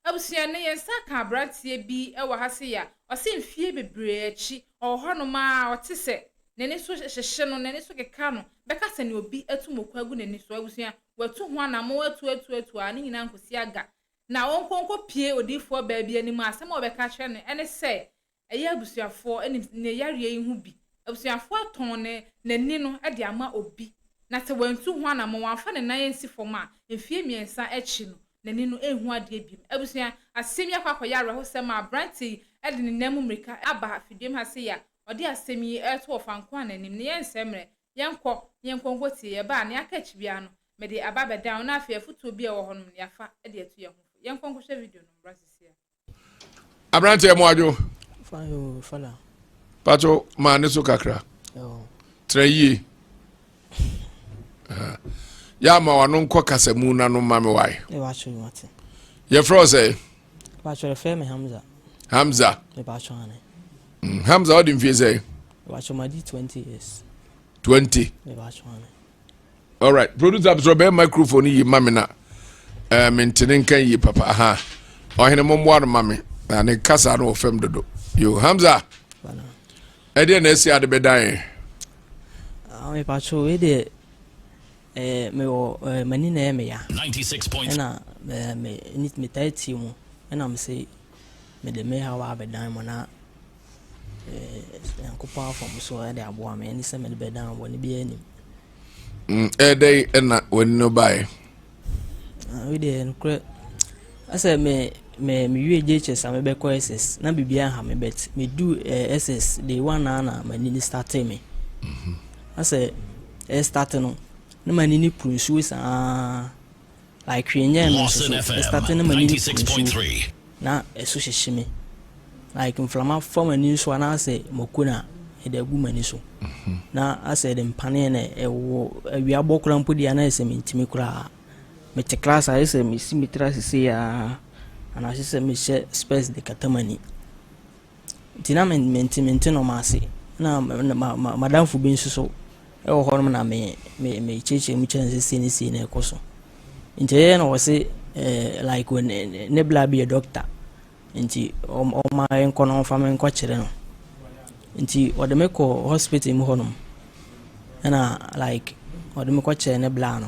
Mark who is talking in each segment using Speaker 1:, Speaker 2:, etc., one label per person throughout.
Speaker 1: Abusua no, yɛn nsa ka aberanteɛ bi wɔ ha sei a, ɔse mfie bebree akyi, ɔwɔ hɔnom ara, ɔte sɛ, n'ani so hyehye no, n'ani so keka no, bɛka sɛ nea obi atu moko agu n'ani so. Abusua, watu ho anammɔn, atu, atu, atu ara, ne nyinaa nkɔsi aga. Na ɔnkɔ nkɔpie odiyifoɔ baa bi anim a, asɛm a wɔbɛka akyerɛ no ne sɛ, ɛyɛ abusuafoɔ ne ne yareɛ yi ho bi. Abusuafoɔ atɔn ne n'ani no de ama obi, na sɛ wantu ho anammɔn, wamfa ne nan ansi fam a, mfeɛ mmiɛnsa akyi no, n'ani no renhu adeɛ biom. Abusua, asɛm yi akɔ akɔyɛ awerɛhosɛm a aberanteɛ yi de ne nan mu mmirika aba afidiem ha sei a ɔde asɛm yi reto Ɔfankwan no anim no, yɛnsɛe mmerɛ, yɛnkɔ na yɛnkɔ nkɔtie. Yɛba a, nea aka akyi biara no, mede aba abɛdan wo, na afei afotuo bi a ɛwɔ hɔnom no, yɛafa de atu yɛn ho fo. Yɛnkɔ nkɔhwɛ video no mmra seesei ara. aberanteɛ
Speaker 2: mu adwo
Speaker 3: pato
Speaker 2: maa ne so kakra tena yie yɛ ama wano nkɔ kasamu no ano ma me wae
Speaker 3: yɛfrɛ wo sɛ hamza hamza mm, hamza wode
Speaker 2: mfie sɛ 20 20
Speaker 3: all right
Speaker 2: producer abisoro bɛyɛ microphone yi ma me na ɛɛ eh, mente ne nka yie papa ha ɔhene mo mmoa no ma me na ne kasa no wɔ fam dodo yo hamza
Speaker 3: ɛdeɛ na
Speaker 2: ɛsi ade bɛdan yɛ.
Speaker 3: Ah, mepatwo wei deɛ eh, mewɔ eh, m'ani na ɛyɛ meya ɛna metaa tie mu ɛna mese mede me hawa abɛdan mu na Nyankopɔn afa me so de aboa me ɛne sɛ mede bɛda bɔne bi anim
Speaker 2: ɛdɛn ɛna w'ani no baeɛ
Speaker 3: wedeɛ nokorɛ asɛ me me mewie JHS a mebɛkɔ SS na biribiaa ha me bet medu SS day one a na m'ani no starte me asɛ ɛstarte no na m'ani no kuru nsuo saa Like hwee nyɛɛ me nso so me starte na m'ani reku nsuo
Speaker 4: na ɛso
Speaker 3: hyehye me like mframa fa m'ani so anaasɛ mako na ɛde agu m'ani so na asɛ ɛde mpaneɛ na ɛwɔ awia bɔ koraa mpo deɛ na ɛsɛ mentumi koraa mete class a ɛsɛ mesi me tiri ase sei a anaasɛ sɛ mehyɛ spɛs de kata m'ani Nti na me mente mente nɔɔma ase na madamfo bi nso so ɛwɔ hɔ nom na me me me kyerɛkyerɛ mu kyerɛ sɛ sei ne sei na ɛkɔ so nti ɛyɛ na wɔse ɛɛ like ne ne bla bi yɛ dɔkta nti ɔma nkɔ na ɔmfa me nkɔ kyerɛ no nti ɔde me kɔ hospital mu hɔ nom ɛna like ɔde me kɔ kyerɛ ne bla no.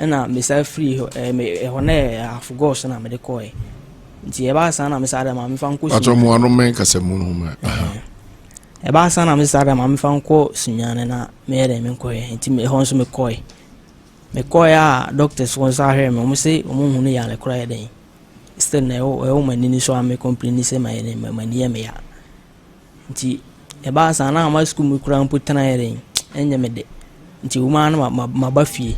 Speaker 3: Ɛna mesan firi hɔ ɛɛ me ɛhɔ na yɛ afogɔs na mede kɔɛ nti ɛbaa san na mesan dɛ maame nfa nkɔ sunyane. atwa mu ano mɛn kasa
Speaker 2: mu no ma.
Speaker 3: ɛbaa san na mesan dɛ maame nfa nkɔ sunyane na meyɛ dɛ me nkɔɛ nti ɛhɔ nso mekɔɛ mekɔɛ a doctors wɔn nso ahwɛ me wɔn se wɔn hu ne yare kora yɛ dɛn still na ɛwɔ ɛwɔ mo ani ni so a me complain sɛ ma yɛ ma ni yɛ me ya. Nti ɛbaa saa na ama sukuu mu koraa mpo tena yɛ den ɛnyɛ me dɛ nti wom ara na maba fie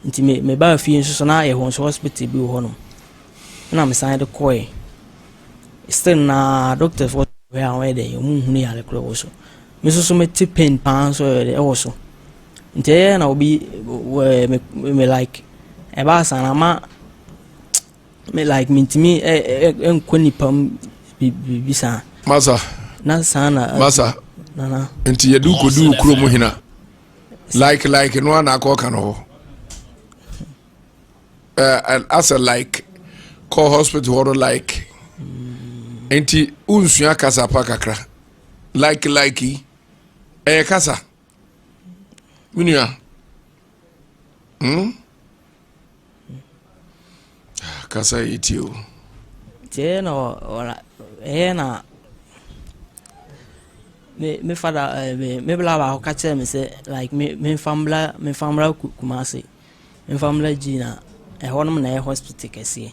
Speaker 3: nti me mebaa fie nso so na ayɛ hɔ nso hospital bi wɔ hɔnom ɛna mesan de kɔɛ still na doctors wɔ hwɛ a wɔyɛ dɛ wɔn nhunu yare korɔ wɔ so me nso so mete pain paa nso yɛ dɛ ɛwɔ so nti ɛyɛ na obi wɔ me me like ɛbaa saa na ama Me like mentumi nkɔ nipa mu biribi saa. Masa.
Speaker 2: Na saa na.
Speaker 3: Masa. Nana.
Speaker 2: Nti
Speaker 3: yɛde wokɔdu
Speaker 2: wo kuro mu hena like like no ana akɔ ka no hɔ asɛ like kɔ hospital hɔ no like nti wonsua kasa pa kakra like like yi ɛyɛ kasa menua hmm? Ah, kasa yɛ tie o. Nti ɛyɛ
Speaker 3: na ɔra ɛyɛ na me me fada ɛɛ me me bla baako ka kyerɛ me sɛ like me me nfa mbla me nfa mbla Kumasi me nfa mbla gyi na ɛhɔ nom na ɛyɛ hospital kɛseɛ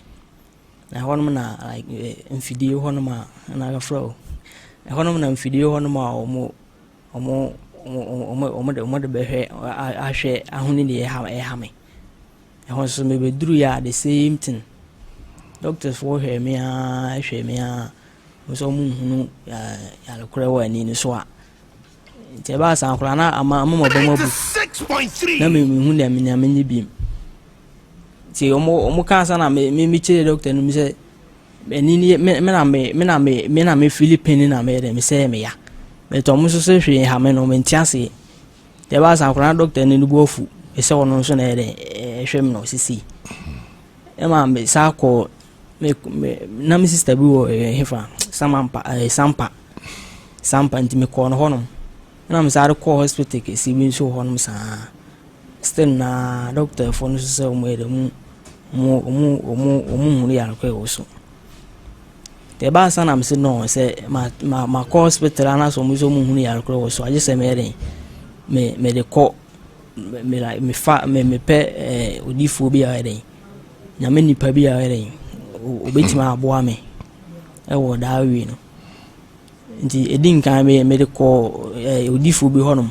Speaker 3: na ɛhɔ nom na like ɛɛ mfidie hɔ nom a ɛna yɛfrɛ o ɛhɔ nom na mfidie hɔ nom a wɔn wɔde bɛhwɛ ahwɛ ahunu deɛ ɛreha me. Ɛhɔ nso mebɛduruiɛ a the same thing. Doctorsfoɔ hwɛɛ me ara hwɛɛ me ara, wɔhu sɛ wɔnhunu yare korɔ wɔ ani no so a, nti ɛbaa sɛ akwadaa no ama ama maba mu abu na
Speaker 4: mehu deɛ
Speaker 3: menea menyɛ biom. Nti wɔkaa sa na mekyerɛ doctor no mu sɛ Ɛno nie, me me na me me na me me na mefili pain na meyɛ dɛ mesɛe me ya. Mɛtɔ mo nso sɛ hwee nha me no mente aseɛ. Deɛ ɛbaa saa koraa na dɔkta no ne bo afu sɛ ɔno nso na ɛyɛ dɛ ɛhwɛ me no sisi. Ɛma me saa kɔɔ me me na me sista bi wɔ ɛyɛ hefa samampa ɛɛ sampa sampa nti mekɔɔ no hɔnom. Ɛna me saa de kɔɔ hospital kɛseɛ bi nso wɔ hɔnom saa. Still na doctor fo no so sɛ ɔmo yɛ dɛ ɔmo ɔmo ɔmo ɔmo ɔmo hunu yare kɔ ɛwɔ so deɛ ɛbaa sa nam se no sɛ ma ma ma kɔ hospital anaasɛ ɔmo sɛ ɔmo hunu yare kɔ ɛwɔ so agye sɛ mɛyɛ dɛ me me de kɔ me me like me fa me me pɛ ɛɛ odiifoɔ bi a ɔyɛ dɛ nyame nipa bi a ɔyɛ dɛ obetumi aboa me ɛwɔ daa wie no nti edi nkan me me de kɔ ɛɛ odiifoɔ bi hɔnom.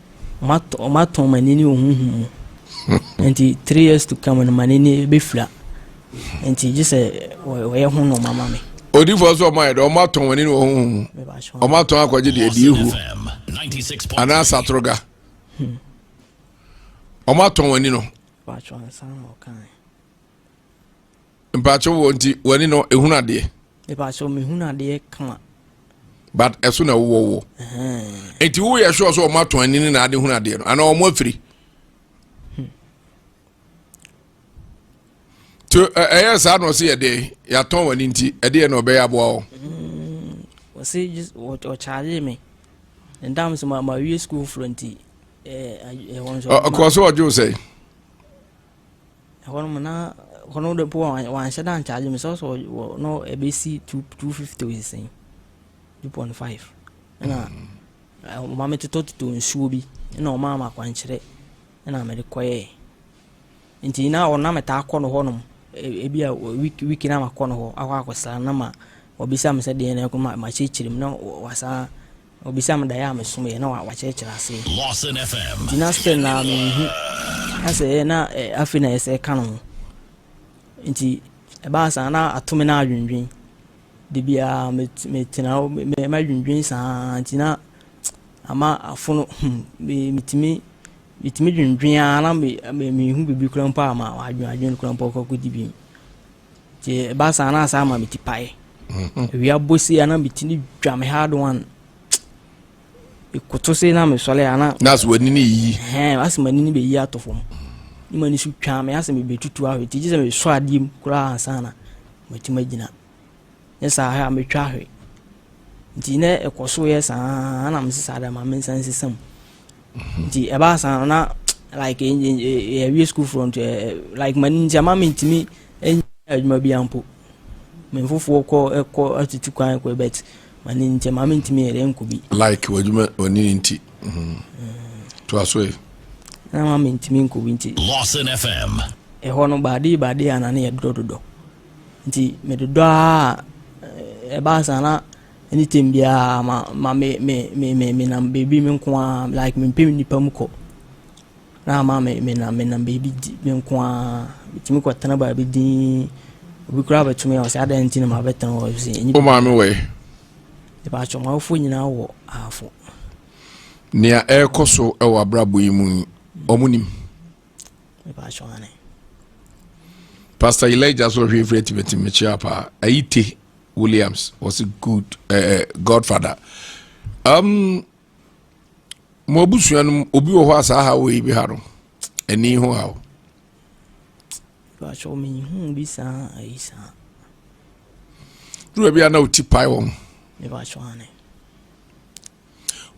Speaker 3: Wɔatɔn m'ani ne honhom mu. Nti three years to come no m'ani ne bɛfira. Nti gye sɛ wɔyɛ ho nɔɔma ma me. Odifoɔ sɛ ɔma yɛ dɛ
Speaker 2: ɔma tɔn wani ne wɔn ho mu ɔma tɔn akɔgye deɛ deɛ ehu
Speaker 4: anaa satroga
Speaker 2: ɔma tɔn wani no. mpakyɛ wɔ nti w'ani no ehunu adeɛ. mpakyɛ wɔn ehunu
Speaker 3: adeɛ kama. but
Speaker 2: ɛso na wowɔ wɔ. nti wo yɛ sure sɛ wɔn atɔn ani ne na ade hunu adeɛ no ana wɔn afiri. to ɛyɛ saa na ɔsi ɛdeɛ yɛatɔn wɔn ani nti ɛdeɛ na ɔbɛyɛ aboa wɔ.
Speaker 3: ɔsi ɔkyaagye mi ndam sɛ ma ma wie sukuu foro nti ɛɛ ɛwɔ nsɔrɔ. ɔkɔ so ɔdwo sɛ.
Speaker 2: Ɛhɔ
Speaker 3: nom na ɛhɔ nom de po wanhyɛ da nkyagye me sɛ ɔsɛ wɔ no ɛbɛsi two two fifty ɔsesɛn two point five ɛna mm. ɔma me totɔ totɔ nsuo bi ɛna ɔma ama akwankyerɛ ɛna mede kɔyɛɛ nti na ɔna metaa kɔ no hɔ nom ebi a week week na makɔ no hɔ akɔ akɔsra na ma ɔbisa me sɛ deɛ na ɛkɔ ma makyerɛkyerɛ mu na wasan Na ɔbisaa me daeɛ a mesomee na wakyerɛkyerɛ aseɛ. Lawson FM.
Speaker 4: Nti na still na menhu
Speaker 3: asɛ ɛyɛ na eh, afei na yɛsɛ ka no ho. Nti ɛbaa saa na ato me na adwendwen. De biara metena hɔ madwendwen saa nti na ama afono hmm, metumi metumi dwendwen ara na mehu biribi koraa mpo a ma wadwen adwen koraa mpo akɔkɔdi bi. nti ɛba saa na saa ma me ti pae awia mhm. bɔ se ana me ti ne dwa me hard one ekoto se na me sɔle ana na so wani ne yi
Speaker 2: ɛhɛn asɛ m'ani ne bɛyi
Speaker 3: ato fam ne m'ani so twa me asɛ me bɛtutu ahwɛ ti gye sɛ me sɔ adeɛ mu koraa ansa na matumi agyina Nyɛ saa hwɛ a metwa hwe. Nti na ɛkɔ so yɛ saa na mese saa dɛ ma mensa nsesa mu. Nti ɛbaa saa no na like yɛwie school front like ma nti ama mentumi ɛnyɛ adwuma bi ampo. Me mfofoɔ kɔ ɛkɔ atutu kwan kɔ but ma ne nti ma mentumi yɛ dɛ nkɔ bi. Like w'adwuma
Speaker 2: ɔne ne nti. Mm-hmm. To aso yi. Na ma
Speaker 3: mentumi nkɔ bi nti. Lawson FM.
Speaker 4: Ɛhɔ no baade
Speaker 3: baade a na ne yɛ dodɔdodɔ. Nti me dodɔ ara a ɛbaa saa na anytime biara ma ma me me me me me nam baabi me nko ara like me mpɛ nipa mu kɔ na ama me me nam me nam baabi di me nko ara metumi kɔ tena baabi din obi koraa bɛtumi a ɔsɛ adan nti na ma bɛtena hɔ sɛ ɛnyɛ o maame wɔ yɛ
Speaker 2: ɛbɛ atwɛ
Speaker 3: ɔmo awofoɔ nyinaa wɔ ahafo
Speaker 2: nea ɛrekɔ so wɔ abrabɔ yi mu yi ɔmo nim Pastor Elijah so hwe frɛ tibeti mekyia pa. Ayite Williams was a good uh, uh, godfather. Um mo abusua no obi wɔ hɔ a saa ha wɔ yi bi ha no. Ani ho ha. Pastor
Speaker 3: me hu bi saa ayi saa.
Speaker 2: Dura bi ana oti pai wɔn. Me ba so ane.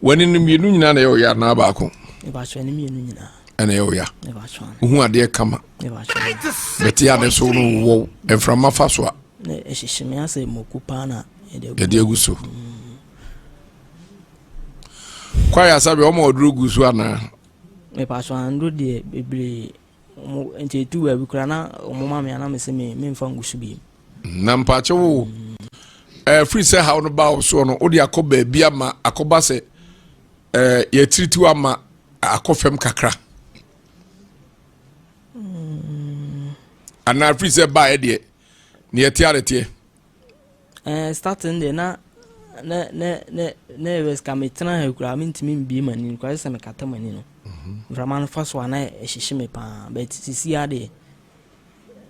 Speaker 3: W'ani
Speaker 2: no mmienu nyinaa na ɛyɛ ɔya anaa baako? Ɛbaatwa ne mmienu
Speaker 3: nyinaa. Ɛna ɛyɛ ɔya.
Speaker 2: Ɛbaatwa. Wohu adeɛ
Speaker 3: kama.
Speaker 2: Ɛbaatwa.
Speaker 3: Bɛte ade so
Speaker 2: no wowɔ mframa fa so a. Ɛhyehye me
Speaker 3: asɛ moko paa na yɛde agu so.
Speaker 2: Mm. Kwaya
Speaker 3: sabi
Speaker 2: ɔmo ɔduro
Speaker 3: gu
Speaker 2: so anaa?
Speaker 3: Ɛbaatwa
Speaker 2: anduro
Speaker 3: deɛ
Speaker 2: bebree. Ɔmo
Speaker 3: nti etu baabi koraa na ɔmo ma me a na me se me me nfa ngu so bi. Na mpakyɛ
Speaker 2: wo ɛɛ firi sɛ haw no baa wo soɔ no wode akɔ baabi ama akɔba sɛ ɛɛ yɛtiritiw ama akɔ fam kakra. Mm. Anaa firi sɛ baa yɛ deɛ ne yɛte adeteɛ. Ɛɛ
Speaker 3: starting deɛ na na na na na ɛyɛ sika metena ha kura mentumi mbie mu ani kura sɛ mekata mu ani no mhm. mframa no fa so a na ɛhyehye me paa but sisi adeɛ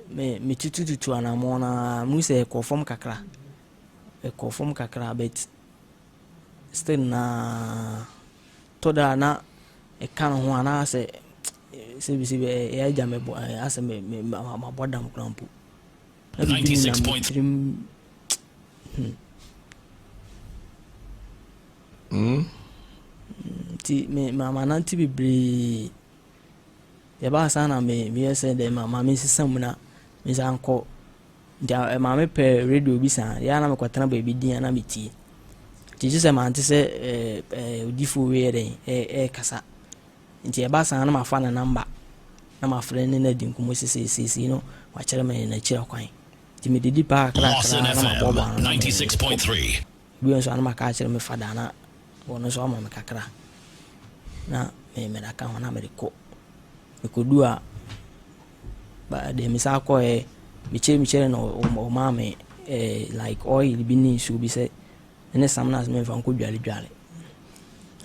Speaker 3: me metutututu anammɔn na mu sɛ ɛkɔ fam kakra ɛkɔ fam kakra but still na tɔ da na ɛka ne ho anaasɛ sɛbisɛbi ɛyɛ agya mebɔ asɛ mabɔ dam kora mpo Adidi mu na mo tirim
Speaker 4: hmm.
Speaker 3: Hmm? nti mamanante bebree yɛbaa saa na meyɛ sɛ dɛ mama mesesa mu na mesa nkɔ nti eh, maame pɛ radio bi saa yɛa na mekɔtena baabi din na metie nti gye sɛ mante sɛ eh, eh, odifoɔ wei yɛ dɛn ɛkasa Nti ɛba saa na mafa ne nɔmba na mafrɛ ne no adi nkɔmmɔ sesei seesei no wakyerɛ me n'akyira kwan nti mede di paa kakra kakra na maboaboa ano na mede
Speaker 4: no kɔ bio nso a na
Speaker 3: maka akyerɛ me fada na wɔno nso ama me kakra na me mede aka ho na mede kɔ mekɔdu a deɛ me saa kɔɛ mekyerɛ mekyerɛ na ɔmaa me eh, like oil bi ne nsuo bi sɛ ɛne samina ase mɛmfa nkɔ dwale dwale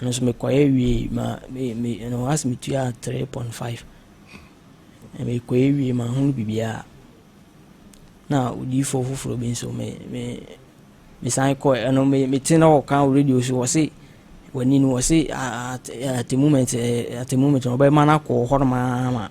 Speaker 3: ɛno nso mekɔyɛ wie ma me me ɛno ase metua three point five mekɔyɛ wie ma ho biribiara na odiifoɔ foforɔ bi nso me me mesan kɔ ɛno me mete na ɔka wɔ radio so wɔse wani no wɔse at at the moment at the moment ɔbɛma no akɔ hɔ nom ama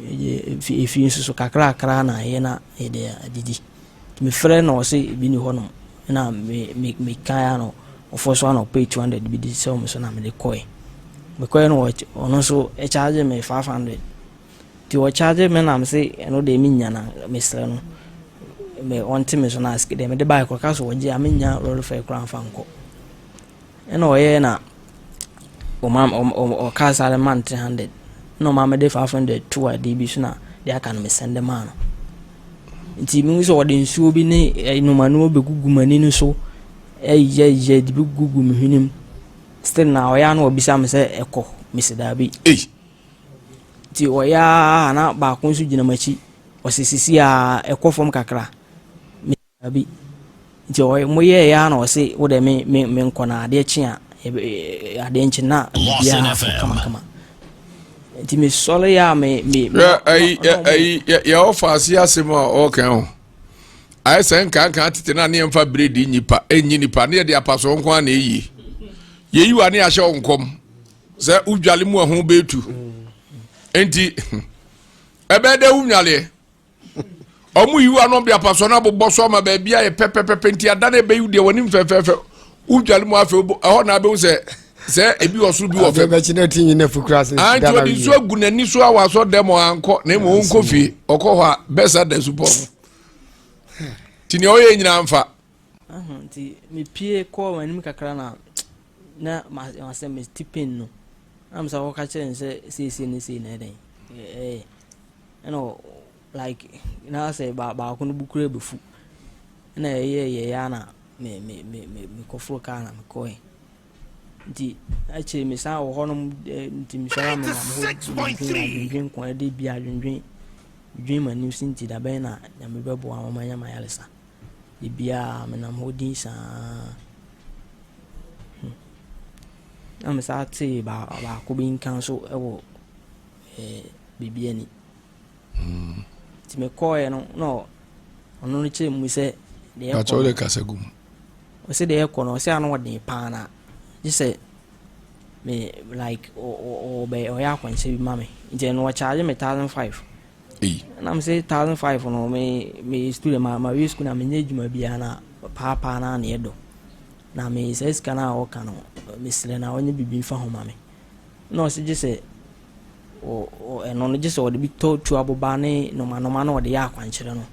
Speaker 3: Yɛde efie nso so kakrakra na ayɛ na yɛde adidi. Mefrɛ na ɔse ebi ni hɔnom na mekan ano ɔfɔ so ana ɔpɛ 200 bi de sɛ ɔmo so na mede kɔɛ. Mekɔɛ no ɔno nso ɛkyagye me 500 nti ɔkyagye me na mese ɛno deɛ menya na mesrɛ no ɔnte me so na asike deɛ mede baeɛ koraa ɔka sɛ ɔgye a mennya lɔre fare koraa mfa nkɔ. Ɛna ɔyɛɛ na ɔma ɔkaa saa de maa no three hundred na ɔma mede five hundred to adeɛ bi so na deɛ aka no mesɛnde maa no nti mehu sɛ ɔde nsuo bi ne eh, nnomanuo bɛgugu m'ani no so ɛyɛyɛ eh, de bɛgugu me hwenem still na ɔyɛ na ɔbisa me sɛ ɛkɔ mesi daabi nti ɔyɛ a na baako nso gyina m'akyi ɔsɛ sisi a ɛkɔ fam kakra Dabi. Nti ɔyɛ mo yɛɛyɛ ara na ɔse wo dɛ me me me nkɔ na adeɛ kye a yɛbɛ adeɛ nkye na biribiara akɔ kama kama. Nti me sɔre a me me me Hwɛ ayi ɔno ɔmo ayi
Speaker 2: yɛ yɛ ɔfa ase asɛm a ɔɔka ho. Ayɛ sɛ nkanka tete na ne yɛn fa bere di nnipa enyi nipa ne yɛde apasoɔ nko ara na eye. Yeyi wa ne ahyɛ wo nkɔm sɛ wodwale mu a ho betu. Nti ɛbɛyɛ dɛ wonwaleɛ ɔmo yiw ano de apasoɔ no abobɔ so ama baabi ayɛ pɛpɛpɛpɛ nti ada no ɛbɛyiw deɛ wɔnim fɛfɛɛfɛ wodwale mu afei ɛhɔ na abɛhu sɛ sɛ ebi wɔ soro bi wɔ fam nti ɔde
Speaker 5: nsuo agu
Speaker 2: n'ani so awɔ asɔ dɛm ɔankɔ na mmom ɔnkɔ fie ɔkɔ hɔ a bɛsa da supɔ nti nea ɔyɛ nyinaa mfa Aha, nti
Speaker 3: mepie kɔɔ wɔn anim kakra na na masɛ me ti pain no am sɛ wɔka kyerɛ no sɛ seesie ne sei na ɛdɛn ɛɛ ɛna like na sɛ baako no bukura bɛfu ɛna ɛyɛ yɛyɛ na me me me me mekɔforo kaa na mekɔɛ nti akyire me san wɔ hɔ nom nti mesɔre me nam hɔ dwendwen adwendwen kɔn ɛde bi adwendwen dwen m'anim si nti dabɛn na nyame bɛboa wɔn anya mayaresa Da biara menam hɔ din saa. Hmm. Na mesaa tee baako bi nka nso wɔ eh, biribi ani. Hmm. Nti mekɔɔeɛ no na ɔno no kyerɛ mu sɛ deɛ ɛkɔ no. kasa gu mu.
Speaker 2: Ɔsɛ
Speaker 3: deɛ ɛkɔ no ɔsɛ ano ɔden paa na gye sɛ me like ɔbɛ ɔyɛ akwanhyɛ bi ma me nti ɛno ɔkyaagye me thousand five ei. Na me se thousand five no me me student ma ma wie school na me nyɛ adwuma biara na paa paa na ne ɛdɔ na me saa sika na ɔka no me srɛ na ɔnyɛ bibi nfa ho ma me na ɔse gye sɛ ɛno no gye sɛ ɔde bi tɔ tu aboba ne noma noma na ɔde yɛ akwankyerɛ no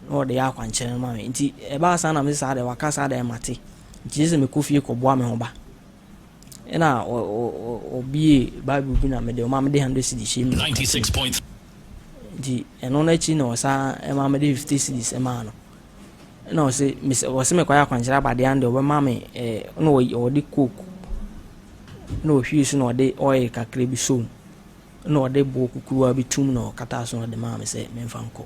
Speaker 3: na ɔde yɛ akwankyerɛ no ma me nti ɛbaa saa na me saa de waka saa de ɛmate nti gye sɛ mekɔ fie kɔboa me ho ba Ɛna ɔbie Bible bi na mede ɔma mede hundred cedis hyɛ mu. Ninety six point.
Speaker 4: Nti
Speaker 3: ɛno n'akyi na ɔsan ɛma mede fifty cedis ɛmaa no. Ɛna ɔse mese ɔse mekɔ ayɛ akwankyerɛ abadeɛ ano deɛ ɔbɛma me ɛɛ na ɔde coke na ɔhwie so na ɔde oil kakra bi so mu na ɔde boɔ kukuruwa bi tum na ɔkata so na ɔde maa me sɛ memfa nkɔ.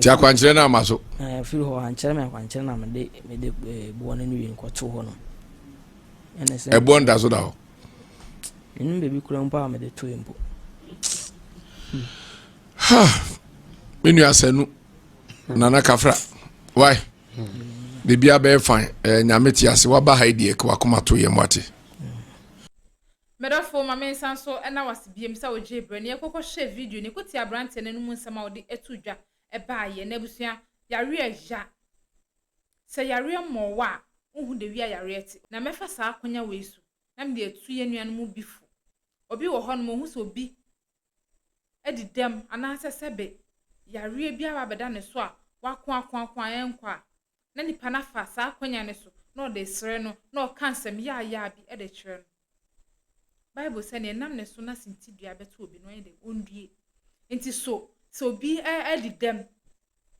Speaker 3: Ti akwankyerɛ no ama
Speaker 2: so. Na ɛfiri hɔ ankyerɛ
Speaker 3: me akwankyerɛ na mede mede eh, boɔ no ne wei nkɔto hɔ nom. Ɛne sɛ. Ɛboɔ nda so da hɔ.
Speaker 2: Menim
Speaker 3: baabi kura mpo a mede toe mpo.
Speaker 2: Ha! Me nua Sanu, Nana Kafra, why? Biribi abɛyɛ fan, ɛyɛ nyame te ase, waba ha deɛ wakoma to yɛn mu ate. Medɔfo,
Speaker 1: ma mensan nso nna wo ase biom sɛ wogyee berɛ na yɛkɔkɔ hyɛɛ video no yɛkɔ tiee aberanteɛ no anum nsɛm a ɔde ɛtoo dwa ɛbaa yɛ. Na abusua, yareɛ ya. Sɛ yareɛ mmɔɔ wo a, wonhu dawia a yareɛ te. Na mɛfa saa akonya wei so na mede atu yɛn nua no mu bi fo. Obi wɔ hɔ nom, ɔhu sɛ obi adi dɛm anaasɛ sɛbe yareɛ bi aba abɛda ne so a, wako ako ako a ɛnkɔ a, na nipa no afa saa akwannya no so na ɔde resrɛ no na ɔka nsɛm yaayaa bi de kyerɛ no. Bible sɛ, Nea ɛnam ne so na sintidua bɛto obi no, ɔnyɛ dɛn? Onnue. Enti so sɛ obi adi dɛm,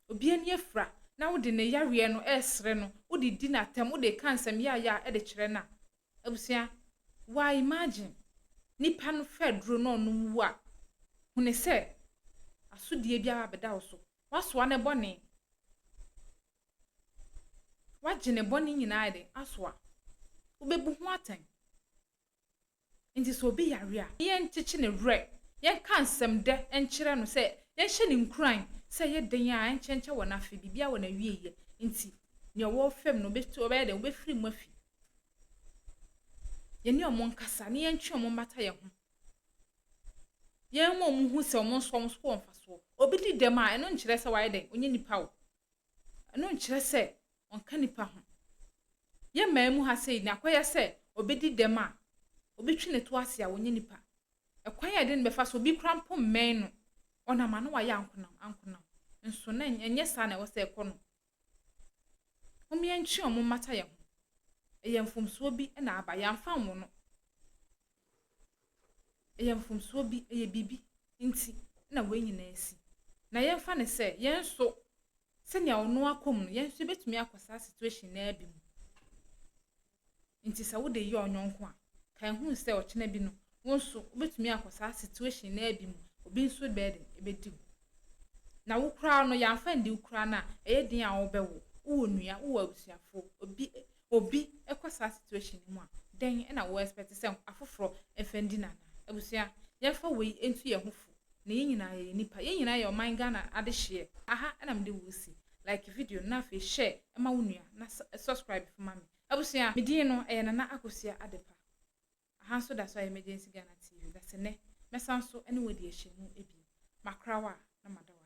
Speaker 1: obi ani afura, na wode ne yareɛ no resrɛ no, wode di no atɛm, wode reka nsɛm yaayaa de kyerɛ no a, Abusua, wa imagine nipa no fɛ duro na ɔnom wu a, hune sɛ asodie bi aba abɛda wo so. Wasoa ne bɔne. Wagye ne bɔne nyinaa ayɛ den asoa. Wobɛbu ho atɛn. Nti sɛ obi yare a, yɛn nkyekye ne werɛ, yɛn ka nsɛm dɛ nkyerɛ no sɛ yɛn hyɛ no nkuran sɛ ɛyɛ den a ɛnkyɛnkyɛ wɔ n'afe, biribiara wɔ n'awieɛ. Nti nea ɔwɔ fam no ɔbɛyɛ dɛn? Ɔbɛfiri mu afi. yɛne wɔn nkasa na yɛntwe wɔn mmata yɛn ho. Yɛmma wɔn hu sɛ wɔn nso wɔn so wɔ mfasoɔ. Obi di dɛm a, ɛno nkyerɛ sɛ wayɛ dɛn? Ɔnyɛ nipa o. Ɛno nkyerɛ sɛ ɔnka nipa ho. Yɛn mmaa mu ha sɛ yi, nea akɔyɛ sɛ obi di dɛm a, obi twe ne to ase a, ɔnyɛ nipa. Ɛkwan a yɛde no bɛfa so, obi kora mpo mmɛn no, ɔnam a na wayɛ ankonam ankonam. Nso na ɛnyɛ saa na ɛwɔ sɛ ɛkɔ no. Hom yɛntwe hɔn mmata yɛn ho. Eyɛ mfomsoɔ bi na aba, yɛamfa anwo no. Eyɛ mfomsoɔ bi, eyɛ biribi nti na wei nyinaa asi. Na yɛmfa no sɛ, yɛn nso, sɛnea ɔno akɔ mu no, yɛn nso yɛbɛtumi akɔ saa situation no ara bi mu. Enti sɛ wode yɛ ɔnyɔnko a, kae hu sɛ ɔkyena bi no, wo nso wobɛtumi akɔ saa situation no ara bi mu, obi nso burden bɛdi wo. Na wo koraa no, yɛamfa ndi wo koraa no a, ɛyɛ den a wobɛwo, wowɔ nua, wowɔ abusuafoɔ, obi obi kɔ saa situation no mu a, dɛn na wo expect sɛ afoforɔ mfa ndi no anaa? Abusua, yɛmfa wei ntu yɛn ho fo, na yɛn nyinaa yɛyɛ nnipa, yɛn nyinaa yɛ ɔman Ghana adehyeɛ, aha na mede wo resi, like video no na afei share ma wo nua na subscribe nso ma me. Abusua, me din no ɛyɛ Nana Akosua Adepa. Aha nso da so ayɛ Emergency Ghana TV, na sɛnnɛ mɛsan so ne wo adi ahyɛmu bio. Makora wo a, na mada wo